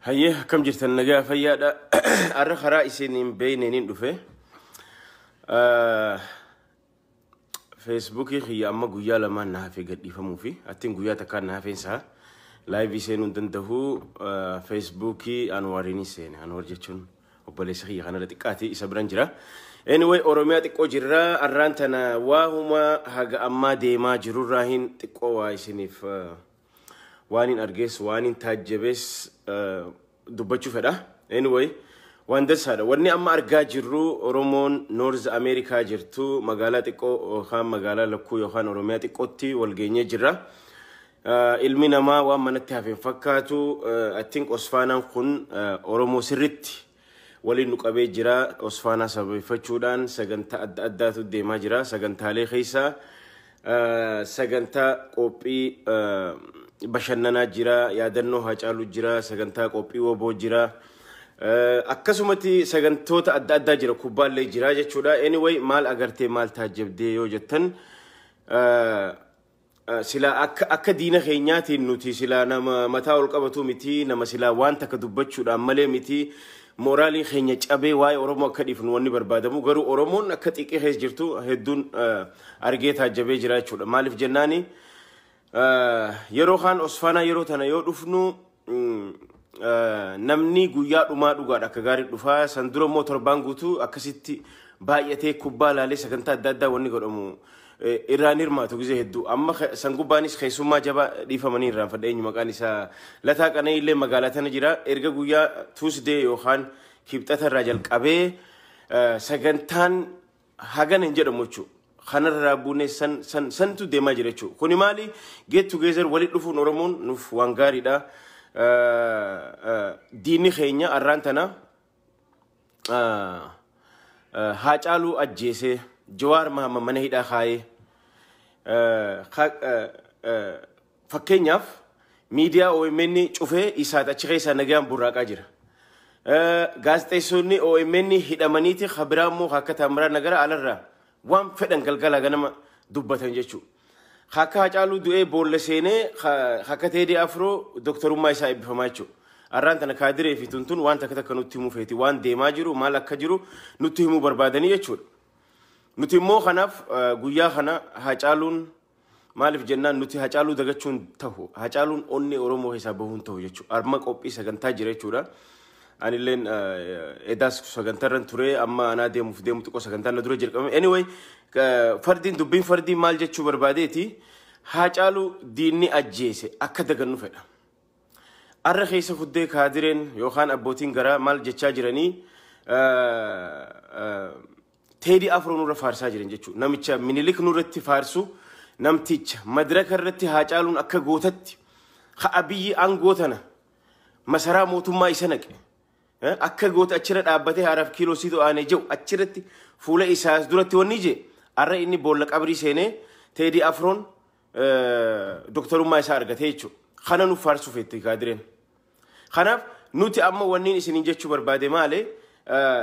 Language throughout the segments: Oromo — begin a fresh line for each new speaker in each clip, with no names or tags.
Hayyee akkam jirtan nagaa fayyaadha. Har'a karaa isin hin beekneen dhufe. Ah, Feesbuukii kiyya amma guyyaa lamaan na hafee gadhiifamuu fi attiin guyyaa takkaan na hafeen isaa laayivii seenuu hin danda'u. Ah, Feesbuukii Anwaariin seene. Anwaar jechuun obboleessa kiyya kanarra xiqqaati isa biran jira. Anyway Oromiyaa xiqqoo jirra. Arraan tana waahuma haga ammaa deemaa jirurraa hin xiqqoo waa isiniif ah, Waanin argees waanin taajjabees eh, dubbachuu fedha. Anyway, waan dansaadha. Wanni amma argaa jirru Oromoon Noorz Ameerikaa jirtu magaalaa xiqqoo yookaan magaalaa lakkuu yookaan Oromiyaa xiqqootti wal geenyee jirra. Eh, Ilmi namaa waan manatti hafe hin fakkaatu. Eh, I think Osfaanaan kun eh, Oromoo sirritti waliin nu qabee jira. Osfaanaa sababeeffachuudhaan sagantaa adda addaatu deemaa jira. Sagantaalee keessaa eh, sagantaa qophii eh, bashannanaa jira, yaadannoo haacaaluu jira, sagantaa qophii woboo jira. Eh, Akkasumatti sagantoota adda addaa jira, kubbaallee jira jechuudha. Anyway maal agartee maal taajjabdee yoo jettan eh, Silaa akka akka diina keenyaatiin nuti silaa nama mataa ol qabatu miti nama silaa waan takka dubbachuudhaan malee miti mooraalii keenya cabee waa'ee Oromoo akka dhiifnu wanni barbaadamu garuu Oromoon akka xiqqee keessa jirtu hedduun eh, argee taajjabee jira jechuudha. Maaliif jennaani eh, yeroo kaan Osfaanaa yeroo tana yoo dhufnu namni guyyaa dhumaa dhugaadha akka gaarii dhufaa san dura immoo torbaan guutuu akkasitti baay'atee kubbaa laalee sagantaa adda addaa wanni godhamu irraan hirmaatu gizee hedduu amma san gubbaanis keessummaa jabaa dhiifamanii irraan fadha eenyu maqaan isaa lataa qanee illee magaalaa tana jira erga guyyaa tuusdee yookaan kibxata irraa jalqabee sagantaan Hagana hin jedhamu jechuu. Kanarraa buunee san san santu deemaa jira jechuu. Kuni maali? Get together walitti dhufuun Oromoon nuuf waan gaariidha. Diinni keenya arraan tana Haacaaluu ajjeesee Jawaar Mahamma mana hidhaa kaayee Fakkeenyaaf miidiyaa omn cufee isaat achi keessaa nagaan burraaqaa jira. Gaazexeessoonni omn hidhamaniiti ka biraa immoo ka akka Taammiraa Nagara alarraa waan fedhan galgala ganama dubbatan jechuudha. Ka akka Hacaaluu du'ee boolla seenee ka ka akka Teedii Afroo doktorummaa isaa eebbifamaa jechuudha. Arraan tana kaadiree fi tuntun waan takka takka nutti himuu feeti. Waan deemaa jiru maal akka jiru nutti himuu barbaadanii jechuudha. Nuti immoo kanaaf eh, guyyaa kana Hacaaluun Maaliif jennaan nuti Hacaaluu dagachuu hin tahu. Hacaaluun onnee Oromoo keessaa bahuu hin tahu jechuudha. Arma qophii sagantaa jira jechuudha. Anilleen eh, edaas sagantarran ture amma anaa deemuuf deemu xiqqoo sagantaan na dura jalqabame. Anyway, eh, fardiin dubbiin fardii maal jechuu barbaadeeti? Hacaaluu diinni ajjeese akka dagannu fedha. Arra keessa fuddee kaadireen yookaan abbootiin garaa maal jechaa jiranii eh, eh, Teedi Afroo nurra faarsaa jiran jechuudha. Namicha Minilik nurratti faarsu namticha madiraka irratti Haacaaluun akka gootatti ha Abiyyi aangoo tana masaraa mootummaa isa naqe. Eh, Akka goota achirra dhaabbatee haaraaf kiiloo siidoo aanee jiru achirratti fuula isaas duratti wanni jee har'a inni boolla qabrii seenee Teedi Afroon doktarummaa isaa argatee jechuudha. Kana nuuf faarsuu feetti kaadireen. Kanaaf nuti amma wanniin isiniin jechuu barbaade maali?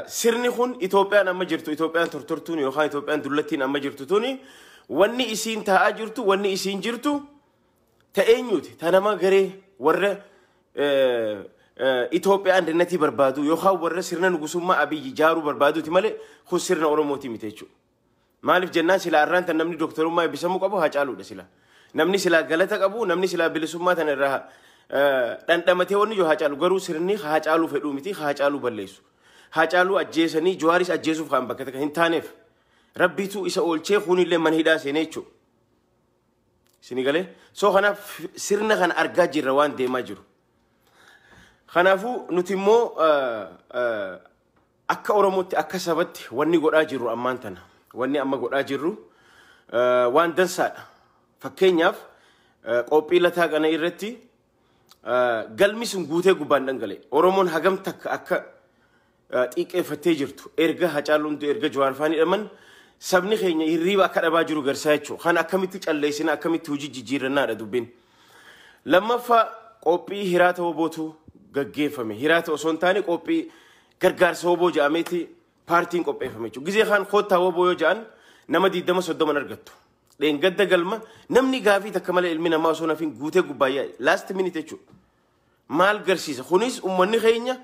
Sirni kun Itoophiyaan amma jirtu, Itoophiyaan tortortuun yookaan Itoophiyaan dullattiin amma jirtu tuni wanni isiin taa'aa jirtu, wanni isiin jirtu ta eenyuuti? Ta nama garee warra Itoophiyaa andannatii barbaadu yookaan warra sirna nugusummaa abiyyi jaaruu barbaaduuti malee kun sirna Oromooti miti jechuudha. Maaliif jennaan silaa arraan tan namni dooktarummaa eebbisamuu qabu Haacaaluudha silaa. Namni silaa galata qabu, namni silaa bilisummaa tana irraa eh, dhandhamatee wanni jiru Haacaalu. Garuu sirni Haacaaluu fedhuu miti, Haacaaluu balleessu. Haacaaluu ajjeesanii Jawaaris ajjeesuuf kan bakka takka hin taaneef. Rabbiitu isa oolchee kuunillee mana hidhaa seenee jechuudha. Isin galee? Soo kanaaf sirna kana argaa jirra waan deemaa jiru. Kanaafuu nuti immoo eh, eh, Akka Oromootti, akka sabatti wanni godhaa jirru ammaan tana, wanni amma godhaa jirru waan dansaadha. Fakkeenyaaf qoophii lataa qana'ii irratti galmi sun guutee gubbaan dhangala'e. Oromoon hagam takka akka xiiqqeeffattee jirtu erga Hacaaluun du'e erga Jawaar faan hidhaman sabni keenya hirriiba akka dhabaa jiru garsaa jechuudha. Kan akkamitti calleessina akkamitti hojii jijjiirrannaadha dubbiin. Lammaffaa qophii hiraata wobootu gaggeeffame. Hiraata osoo hin taane qophii gargaarsa woboo jedhameeti paartiin qopheeffame jechuudha. Gizee kaan koottaa woboo yoo jedhan nama 20-30 argattu. Dheengadda galma namni gaafii takka malee ilmi namaa osoo nafin guutee gubbaa yaa'e. Last minute jechuudha. Maal garsiisa? Kunis ummanni keenya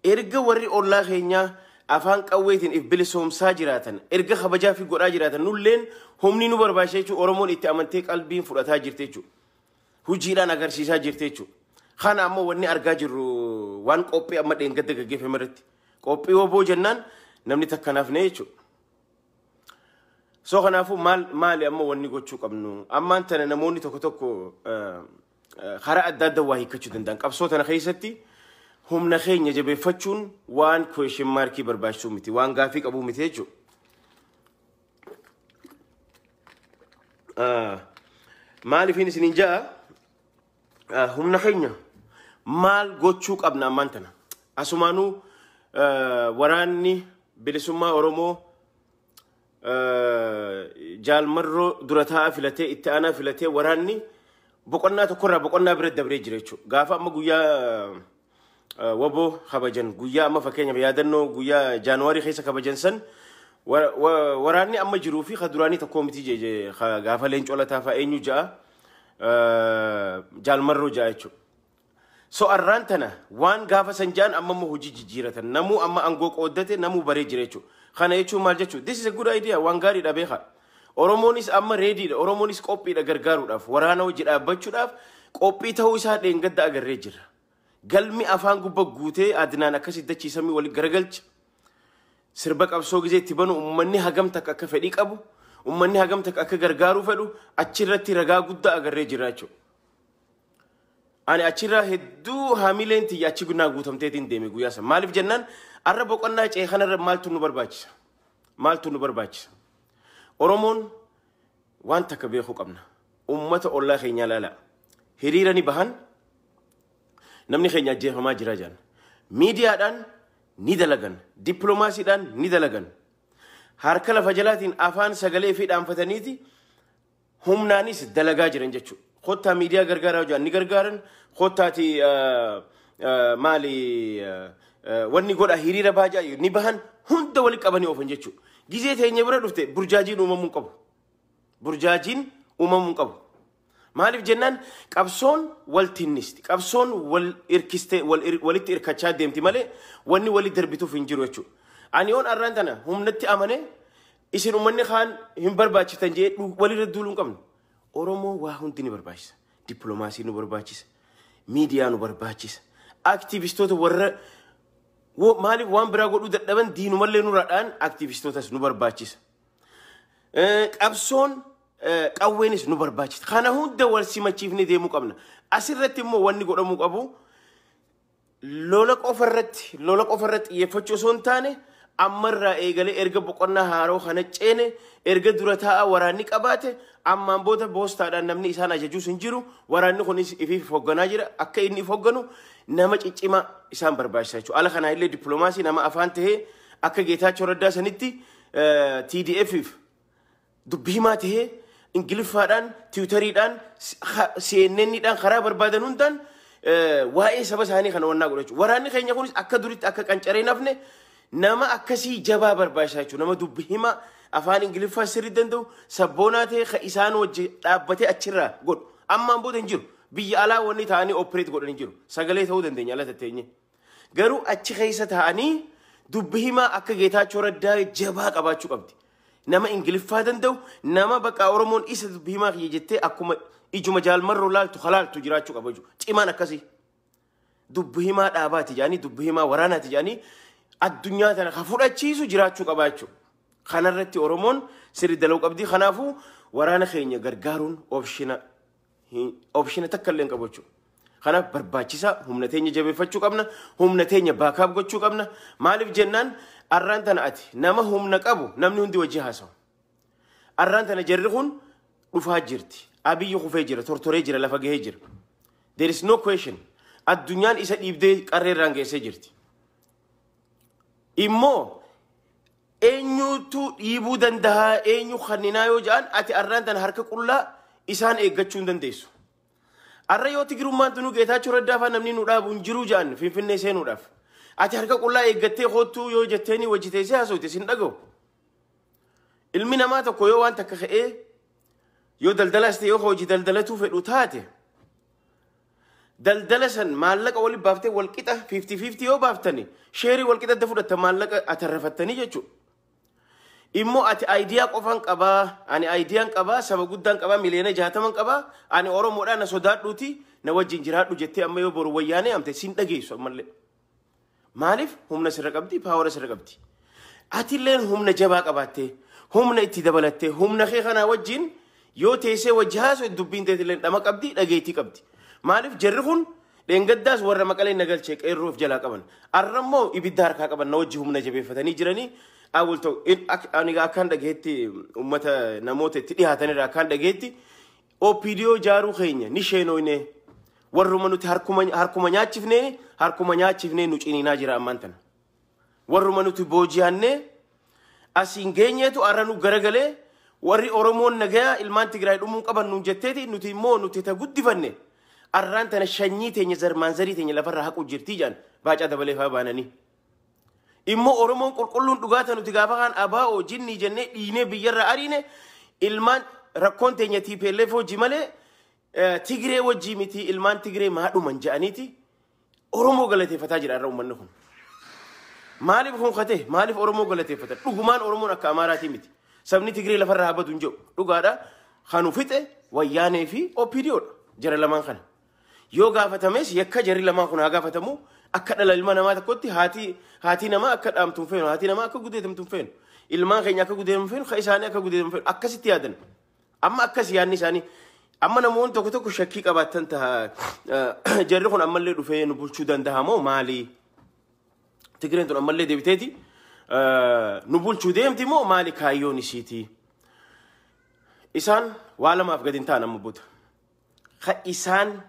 erga warri ollaa keenyaa afaan qawweetiin if bilisoomsaa jiraatan, erga kabajaa fi godhaa jiraatan nulleen humni nu barbaachisa jechuun Oromoon itti amantee qalbiin fudhataa jirti jechuudha. Hojiidhaan agarsiisaa jirti jechuudha. Kana ammoo wanni argaa jirru waan qophii amma dheengadda gaggeeffame irratti. Qophii oboo jennaan namni takka nafne jechuudha. So kanaafuu maal maali amma wanni gochuu qabnu? Ammaan tana namoonni tokko tokko eh, karaa adda adda waa hiikkachuu danda'an qabsoo tana keessatti humna keenya jabeeffachuun waan question maarkii barbaachisuu miti waan gaafii qabuu miti jechuudha. Maaliifin isiniin ja'a humna keenya maal gochuu qabna ammaan tana asumaanuu waraanni bilisummaa Oromoo jaalmarroo dura taa'aa filatee itti aanaa filatee waraanni boqonnaa tokkorraa boqonnaa bira dabree jira jechuudha. Gaafa amma guyyaa eh, waboo kabajan guyyaa amma fakkeenyaaf yaadannoo guyyaa jaanuwaarii keessa kabajan san wa- wa- waraanni amma jiruu fi ka duraanii tokkoo miti je- je- ka gaafa leencoo lataa fa'a eenyu ja'a eh, jaalmarroo ja'a jechuudha. So arraan tana waan gaafa san ja'an amma immoo hojii jijjiiratan. Namuu amma angoo qooddate namuu baree jira jechuudha. Kana jechuun maal jechuudha? This is a good idea. Waan gaariidha beeka. Oromoonis amma reediidha. Oromoonis qophiidha gargaaruudhaaf. Waraana hojii dhaabbachuudhaaf qophii ta'uu isaa dheengadda agarree jirra. Galmi afaan gubba guutee adinaan akkasitti dachiisamii waliin garagalcha. sirba qabsoo gisee itti banu uummanni hagam takka akka fedhii qabu uummanni hagam takka akka gargaaruu fedhu achirratti ragaa guddaa agarree jira jechuudha. Ani achirraa hedduu hamileen tiyya achi gunnaa guutamteetiin deeme guyyaa sana. Maaliif jennaan arra boqonnaa ce'e kanarra maaltu nu barbaachisa? Maaltu nu barbaachisa? Oromoon waan takka beekuu qabna. Uummata ollaa keenyaa ilaalaa. Hiriira ni bahan namni keenya ajjeefamaa jira jedhan. Miidiyaadhaan ni dalagan. Dippiloomaasiidhaan ni dalagan. Harka lafa jalaatiin afaan sagalee fi dhaanfataniiti humnaanis dalagaa jiran jechuudha. Kottaa miidiyaa gargaaraa hojjaan ni gargaaran kottaati maali wanni godha hiriira baajaa ni bahan hunda wali qabanii oofan jechuudha. Gizee teenya bira dhufte burjaajiin uumamuu qabu. Burjaajiin uumamuu qabu. Maaliif jennaan qabsoon wal tinnisti. Qabsoon wal irkistee walitti irkachaa deemti malee wanni wali darbituuf hin jiru jechuudha. Ani yoon arraan tana humnatti amanee Isin ummanni kaan hin barbaachiftan jee dhu- walirra duuluu hin qabnu. Oromoo waa hundi ni barbaachisa. Dippiloomaasii nu barbaachisa. Miidiyaa nu barbaachisa. Aktiivistoota warra wo- maaliif waan biraa godhuu dadhaban diinumallee nurraa dha'an aktiivistootas nu barbaachisa. Eh, qabsoon eh, qawweenis nu barbaachisa. Kana hunda wal simachiifnee deemuu qabna. Asirratti immoo wanni godhamuu qabu Lola qofa irratti lola qofa irratti xiyyeeffachuu osoo hin taane amma irraa eegalee erga boqonnaa haaroo kana ceene erga dura taa'aa waraanni qabaate ammaan booda boostaadhaan namni isaan ajajuus hin jiru waraanni kunis ifiif hoogganaa jira akka inni if hoogganu nama ciccimaa isaan barbaachisa jechuudha. Ala kanaa illee dippiloomaasii nama afaan tahee akka Geetaachoo Raddaa sanitti eh, TDF fi Dubbi himaa tahee Ingiliffaadhaan, Tiwutariidhaan, CNN dhaan karaa barbaadan hundaan waa'ee saba isaanii kana wannaa godha jechuudha. Waraanni keenya kunis akka duritti akka qancaree hin hafne nama akkasii jabaa barbaachisa jechuudha. Nama dubbi himaa afaan Ingiliffaa sirrii danda'u sabboonaa ta'e kan isaan wajji dhaabbatee achirraa godhu. Ammaan booda hin jiru. Biyya alaa wanni ta'anii opereet godhan hin jiru. Sagalee ta'uu dandeenya ala tatteenye. Garuu achi keessa taa'anii dubbi himaa akka Geetaachoo Raddaa jabaa qabaachuu qabdi. Nama Ingiliffaa danda'u, nama baqaa Oromoon isa dubbi himaa kiyya jettee akkuma ijuma jaalmarroo laaltu halaaltu jiraachuu qaba jechuudha. Cimaan akkasii. Dubbi himaa dhaabaati jedhanii, dubbi himaa waraanaati jedhanii addunyaa tana ka fudhachiisu jiraachuu qaba jechuudha. Kanarratti Oromoon sirri dalaguu qabdi. Kanaafuu waraana keenya gargaaruun opshina Opshina takka illee hin qabu jechuudha. Kanaaf barbaachisaa humna teenya jabeeffachuu qabna. Humna teenya baakaap gochuu qabna. Maaliif jennaan arraan tana ati nama humna qabu namni hundi wajji haasawa. Arraan tana jarri kun dhufaa jirti. Abiyyi kufee jira, tortoree jira, lafa gahee jira. There is no question. Addunyaan isa dhiibdee qarree irraan geessee jirti. Immoo Eenyuutu dhiibuu danda'a eenyu kanninaa yoo ja'an ati arraan tana harka qullaa isaan eeggachuu hin dandeessu. Arra yoo Tigirummaan tunuu Geetaachoo Raddaa fa'aa namni nu dhaabu hin jiruu ja'an Finfinnee seenuudhaaf. Ati harka qullaa eeggattee koottuu yoo jetteenii wajji teessee haasofte sin dhaga'u. Ilmi namaa tokko yoo waan takka ka'ee yoo daldalaas ta'e yoo hojii daldalatuu fedhu taate Daldala san maallaqa walitti baaftee walqixa 50-50 yoo baaftani sheerii walqixa adda fudhatta maallaqa atarrafattanii jechuudha. Immoo ati ayidiyaa qofaan qabaa, ani ayidiyaan qabaa, saba guddaan qabaa, miliyoona jaataman qabaa, ani Oromoodhaa na sodaadhuuti na wajjin jiraadhu jettee amma yoo boru wayyaanee amte siin dhageessu ammallee. Maaliif humna sirra qabdi, paawara sirra qabdi. Atilleen humna jabaa qabaattee, humna itti dabalattee, humna kee kanaa wajjin yoo teessee wajji haasoo dubbiin teetilleen dhama qabdi, dhageettii qabdi. Maaliif jarri kun dheengaddaas warra maqaleen nagalchee qeerroo of jalaa qaban. Arra immoo ibidda harkaa qaban na wajji humna jabeeffatanii jiranii awul ta'u. Ani akkaan dhageetti uummata namoota itti dhihaatanirra akkaan dhageetti OPDO ijaaruu keenya ni sheenooynee warruma nuti harkuma, harkuma nyaachifneen harkuma nyaachifnee nu ciniinaa jira ammaan tana. Warruma nuti booji'annee asiin geenyeetu arra nu garagalee warri Oromoon nagayaa ilmaan Tigraay dhumuun qaban nuun jetteeti nuti immoo nuti ta guddifanne arraan tana shanyii teenya zarmaan zarii teenya lafarraa haquu jirtii jedhan baacaa dabalee faa baananii. Immoo Oromoon qulqulluun dhugaa ta'e nuti gaafa kaan abaa'oo jinnii jennee dhiinee biyyarra ariine ilmaan rakkoon teenya TPLF hojii malee eh, Tigree wajjii miti ilmaan Tigree maadhuman ja'aniiti Oromoo galateeffataa jira irra uummanni kun. Maaliif kun kate? Maaliif Oromoo galateeffatan? Dhugumaan Oromoon akka Amaaraatii miti. Sabni Tigree lafarraa habadu hin jedhu. Dhugaadha. Kanu fixe wayyaanee fi OPDO dha. Jara lamaan kana. Yoo gaafatames yakka jarri lamaan kun haa gaafatamu akka dhala ilma namaa tokkotti haatii haatii namaa akka dhaamtu hin feenu haatii namaa akka gudeetamtu hin feenu ilmaan keenya akka gudeetamu hin feenu ka isaanii akka gudeetamu hin feenu akkasitti yaadan amma akkas yaadni isaanii amma namoonni tokko tokko shakkii qabaatan taha eh, jarri kun ammallee dhufee nu bulchuu danda'a moo maalii Tigireen tun ammallee deebiteeti eh, nu bulchuu deemti moo maali kaayyoon isiitii isaan waa lamaaf gadi hin ta'an amma booda. ka isaan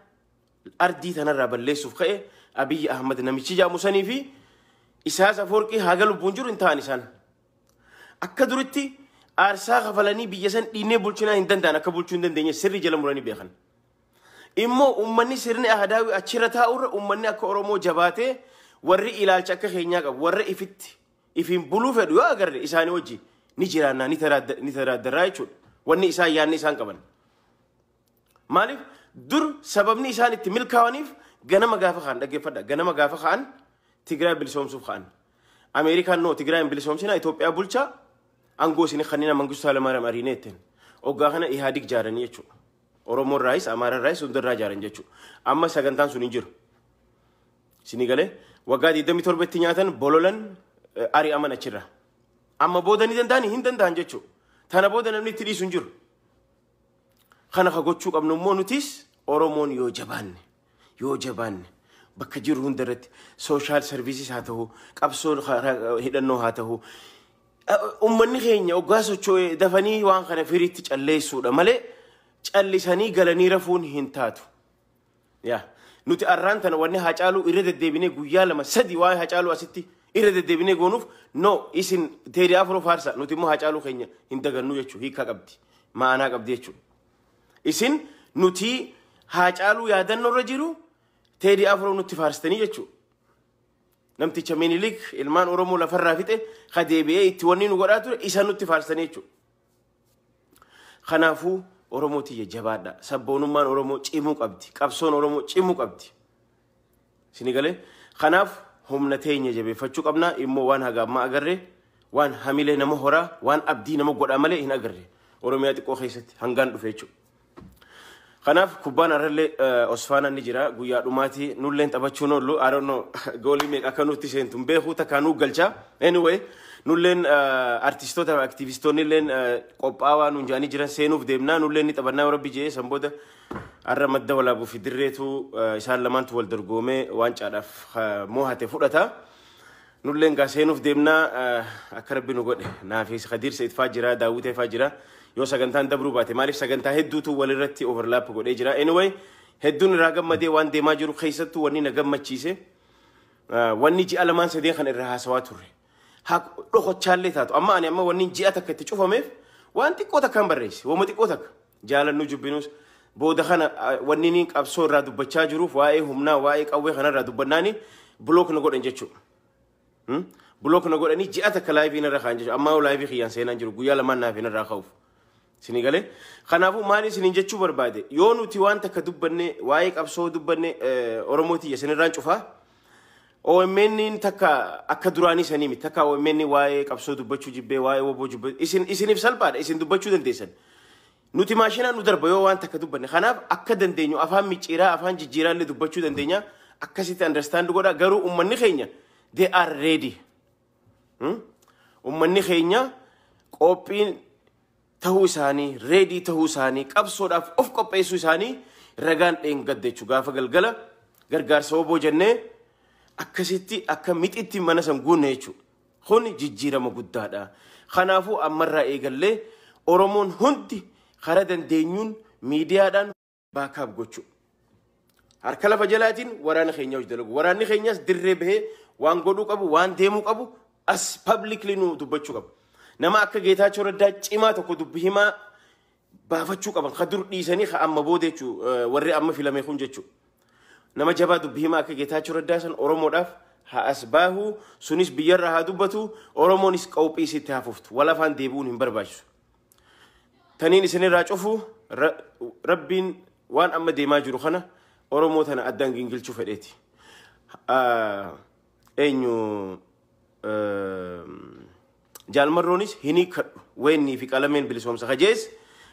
ardii tanarraa balleessuuf ka'e Abiyyi Ahmad namichi jaamu sanii fi Isaas Afoorqii haga lubbuun jiru hin ta'an isaan. Akka duritti aarsaa kafalanii biyya san dhiinee bulchinaa hin danda'an akka bulchuu hin dandeenye sirri jala muranii beekan. Immoo uummanni sirni ahadaawii achirra taa'urra uummanni akka Oromoo jabaatee warri ilaalcha akka keenyaa qabu warra ifitti ifiin buluu fedhu yoo agarre isaanii wajji ni jiraannaa ni taraadda- ni taraaddarraa jechuudha. Wanni isaan yaadni isaan qaban. Maaliif dur sababni isaan itti milkaawaniif ganama gaafa ka'an dhaggeeffadha. Ganama gaafa ka'an Tigraay bilisoomsuuf ka'an. Ameerikaan noo Tigraay hin bilisoomsina Itoophiyaa bulchaa aangoo isin kannina Mangistuu Haalamaariyaam ariinee ittiin. Oggaa kana Ihaadig jaaranii jechuudha. Oromoo irraayis Amaara irraayis hunda irraa jaaran jechuudha. Amma sagantaan sun hin jiru. Isinii galee waggaa 27 itti nyaatan bololan ari'aman achirraa. Amma booda ni danda'an hin danda'an jechuudha. Tana booda namni itti dhiisu hin jiru. Kana ka gochuu qabnu immoo nutis Oromoon yoo jabaanne yoo jabaanne bakka jiru hunda irratti sooshaal sarviisis haa ta'u qabsoo karaa hidhannoo haa ta'u ummanni keenya oggaa socho'e dafanii waan kana firiitti calleessuudha malee callisanii galanii rafuun hin taatu. Yaa nuti arraan tana wanni Haacaaluu irra deddeebinee guyyaa lama sadi waa'ee Haacaaluu asitti irra deddeebinee goonuuf no isin Teedii Afroo faarsa nuti immoo Haacaaluu keenya hin dagannuu jechuu hiikaa qabdi ma'anaa qabdi jechuu isin nuti Haacaaluu yaadannoo irra jiru Teedii Afroo nutti faarstanii jechuu namticha Minilik ilmaan Oromoo lafarraa fixe ka deebi'ee itti wanni nu godhaa ture isa nutti faarstanii jechuu Kanaafuu Oromoo tiyya jabaadha. Sabboonummaan Oromoo cimuu qabdi. Qabsoon Oromoo cimuu qabdi. Sini galee kanaaf humna teenya jabeeffachuu qabna immoo waan haga ammaa agarre waan hamilee nama horaa waan abdii nama godhaa malee hin agarre Oromiyaa xiqqoo keessatti hangaan dhufe jechuudha. Kanaaf kubbaan har'allee eh, Osfaanaan ni jira. Guyyaa dhumaati nulleen taphachuun oollu. I don't know goolii meeqa akka nutti seentu hin beeku takkaa nu galcha. Anyway nulleen eh, artistoota aktivistoonni illeen eh, qophaawaa nuun jedhanii jiran seenuuf deemnaa nulleen ni taphannaa rabbi jee san booda har'a madda walaabuu fi dirreetu eh, isaan lamaantu wal dorgoomee waancaadhaaf eh, moohate fudhata. Nulleen gaa seenuuf deemnaa eh, akka rabbi nu godhe naafi kadiirsa itfaa jira daawwita ifaa jira yoo sagantaan dabruu baate maaliif sagantaa hedduutu walirratti overlap godhee jira anyway hedduun irraa gammadee waan deemaa jiru keessattuu wanni na gammachiise eh, wanni ji'a lamaan sadeen kan irraa haasawaa turre haa dhokochaallee taatu amma ani amma wanni ji'a takka itti cufameef waan xiqqoo takkaan barreesse wama xiqqoo takka jaalannu jubbinus booda kana wanni inni qabsoo irraa dubbachaa jiruuf waa'ee humnaa waa'ee qawwee kanarraa dubbannaani blook na godhan jechuudha. Blook na godhanii ji'a takka laayivii narra kaan jechuudha. Ammaa laayivii kiyyaan seenaan jiru guyyaa lamaan naaf hin irraa ka'uuf. Isin galee kanaafuu maal isiniin jechuu barbaade yoo nuti waan takka dubbanne waa'ee qabsoo dubbanne Oromoo tiyya isinirraan cufaa OMN takka akka duraanii sanii miti. Takka OMN waa'ee qabsoo dubbachuu jibbee, waa'ee woboo jibbee. Isin, isiniif salphaadha. Isin dubbachuu dandeessan. Nuti maashinaan nu darba yoo waan takka dubbanne. Kanaaf akka dandeenyu afaan micciiraa, afaan jijjiiraa illee dubbachuu dandeenya. Akkasitti understand godha. Garuu ummanni keenya they are ready. Hmm? Ummanni keenya qophiin tahuu isaanii, ready tahuu isaanii, qabsoodhaaf of qopheessuu isaanii ragaan dheengadda jechuudha. Gaafa galgala gargaarsa waboo jennee akkasitti akka mixitti mana san guunne jechuudha. Kun jijjiirama guddaadha. Kanaafuu ammarraa eegallee Oromoon hundi karaa dandeenyuun miidiyaadhaan baakaap gochuu. Harka lafa jalaatiin waraana keenya hojii dalagu. Waraanni keenyas dirree bahee waan godhuu qabu, waan deemuu qabu as publicly nu dubbachuu qabu. Nama akka Geetaachoo Raddaa cimaa tokko dubbi himaa baafachuu qaban. Ka dur dhiisanii ka amma booda jechuu warri amma filame kun jechuu. Nama jabaa dubbi himaa akka Geetaachoo Raddaa san Oromoodhaaf haa as baahu sunis biyyarraa haa dubbatu Oromoonis qawphii isitti haa fuftu. Walafaan deebi'uun hin barbaachisu. taniin isinirraa cufu ra- rabbiin waan amma deemaa jiru kana oromoo tana addaan gingilchuu fedheeti Ah, eenyu ehm, jaalmarroonis hin hiikkadhu weennii fi qalameen bilisoomsa kajees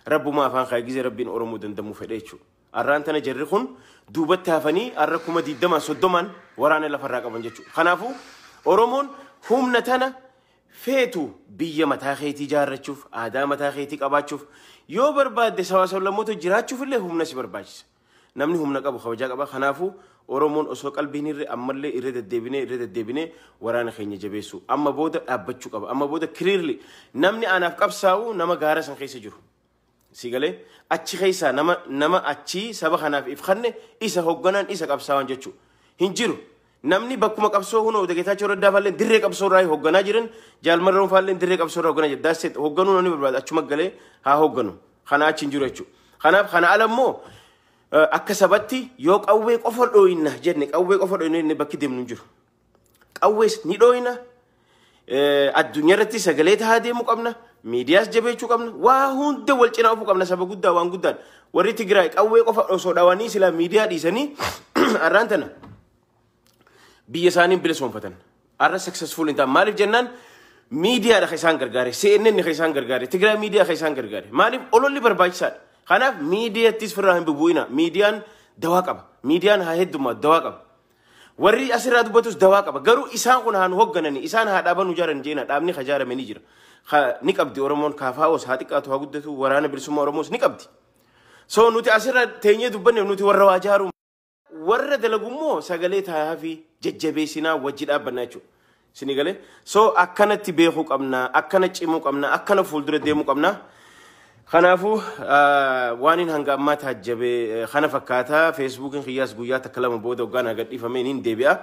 rabbumaa afaan kaa gizee rabbiin oromoo dandamuu fedhe jechuudha arraan tana jarri kun duubatti hafanii arra kuma digdamaan soddomaan waraana lafarraa qaban jechuudha kanaafuu oromoon humna tana feetu biyya mataa keetii ijaarrachuuf, aadaa mataa keetii qabaachuuf, yoo barbaadde sabaa sablammoota jiraachuuf illee humna si barbaachisa. Namni humna qabu kabajaa qaba. Kanaafuu Oromoon osoo qalbii hin hirre ammallee irra deddeebinee irra deddeebinee waraana keenya jabeessuu. Amma booda dhaabbachuu qaba. Amma booda clearly namni anaaf qabsaa'u nama gaara san keessa jiru. Si galee achi keessaa nama nama achii saba kanaaf if kanne isa hogganaan isa qabsaawaan jechuu hin jiru. Namni bakkuma qabsoo hunoo Geetaachoo Raddaa faalleen dirree qabsoo irraa hogganaa jiran jaalmarroon faalleen dirree qabsoo irraa hogganaa jiran daasseet hogganuu namni barbaadu achuma galee haa hogganu. Kana achi hin jiru jechuudha. Kanaaf kana ala immoo eh, akka sabatti yoo qawwee qofa dhooyinna jenne qawwee qofa dhooyinna jenne bakki deemnu hin jiru. Qawwees ni dhooyna. Addunyaa irratti sagalee tahaa deemuu qabna. Miidiyaas jabeechuu qabna. Waa hunda wal cinaa ofuu qabna saba guddaa waan guddaan. Warri Tigraay qawwee qofa osoo dhawanii silaa miidiyaa dhiisanii har'aan tana biyya isaaniin bilisoomfatan. Har'a successful hin ta'an. Maaliif jennaan miidiyaadha kan isaan gargaare. CNN kan isaan gargaare. Tigraay miidiyaa kan isaan gargaare. Maaliif ololli barbaachisaadha. Kanaaf miidiyaattis firraa hin bubu'ina. Miidiyaan dawaa qaba. Miidiyaan haa heddummaa dawaa qaba. Warri asirraa dubbatus dawaa qaba. Garuu isaan kun haa nu hogganani, isaan haa dhaaba nu jaaran jeena, dhaabni ka jaarame ni jira. Ka ni qabdi Oromoon kaafaa'oos haa xiqqaatu haa guddatu, waraana bilisummaa Oromoos ni qabdi. So nuti asirra teenyee dubbanne nuti warra waa jaaruu warra dalagummoo sagalee taayaafii jajjabeessinaa wajji dhaabbanna jechuudha. Sini galee so akkanatti beekuu qabna akkana cimuu qabna akkana fuuldura deemuu qabna. Kanaafuu waaniin hanga ammaa taajjabe kana fakkaata feesbuukiin kiyyaas guyyaa takka lama booda hoggaan agadhiifame niin deebi'a.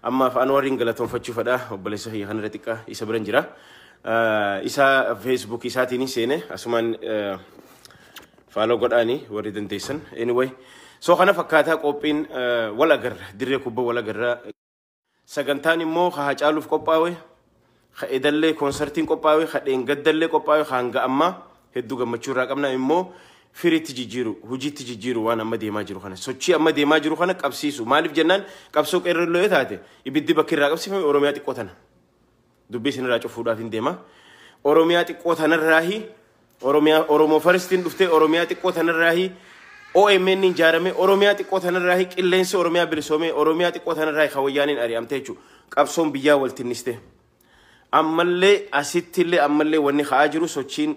Ammaaf Anwariin galatoonfachuu fedha obboleessa kiyya kanarra xiqqa isa biran jira. Isa feesbuuk isaatiin seene asumaan faaloo godhaani warri dandeessan. Anyway so kana fakkaataa qophiin wal agarra dirree kubba wal agarra. Sagantaan immoo ka Hacaaluuf qophaawe, ka edallee koonsartiin qophaawe, ka dheengaddallee qophaawe, ka hanga ammaa hedduu gammachuu irraa qabna immoo firiitti jijjiiru, hojiitti jijjiiru waan amma deemaa jiru kana. Sochii amma deemaa jiru kana qabsiisu. Maaliif jennaan qabsoo qeerroo illee yoo taate ibiddi bakki irraa qabsiifame Oromiyaa xiqqoo tana. Dubbii isinirraa cufuudhaaf hin deema. Oromiyaa xiqqoo tanarraahi Oromiyaa Oromoo faristiin dhuftee Oromiyaa xiqqoo tanarraahi OMN ijaarame Oromiyaa xiqqoo tanarraahi qilleensi Oromiyaa bilisoomee Oromiyaa xiqqoo tanarraahi kan wayyaaniin ari'amte jechuudha. Qabsoon biyyaa wal tinniste. Ammallee asittillee ammallee wanni ka'aa jiru sochiin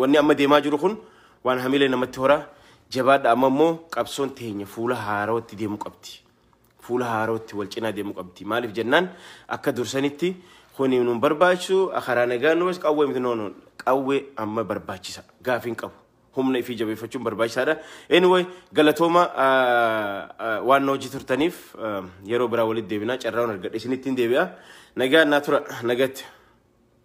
wanni amma deemaa jiru kun waan hamilee namatti horaa jabaadha amma immoo qabsoon teenya fuula haaraatti deemuu qabdi. fuula haarootti wal cinaa deemuu qabdi. Maaliif jennaan akka dursanitti kuni nun barbaachisu karaa nagaa nu bas qawwee miti noonu qawwee amma barbaachisa gaafiin qabu. Humna ifii jabeeffachuun barbaachisaadha. Anyway galatooma waan na hojii turtaniif yeroo biraa walitti deebinaa carraa argadhe isinittiin deebi'a. Nagaa naa tura nagatti.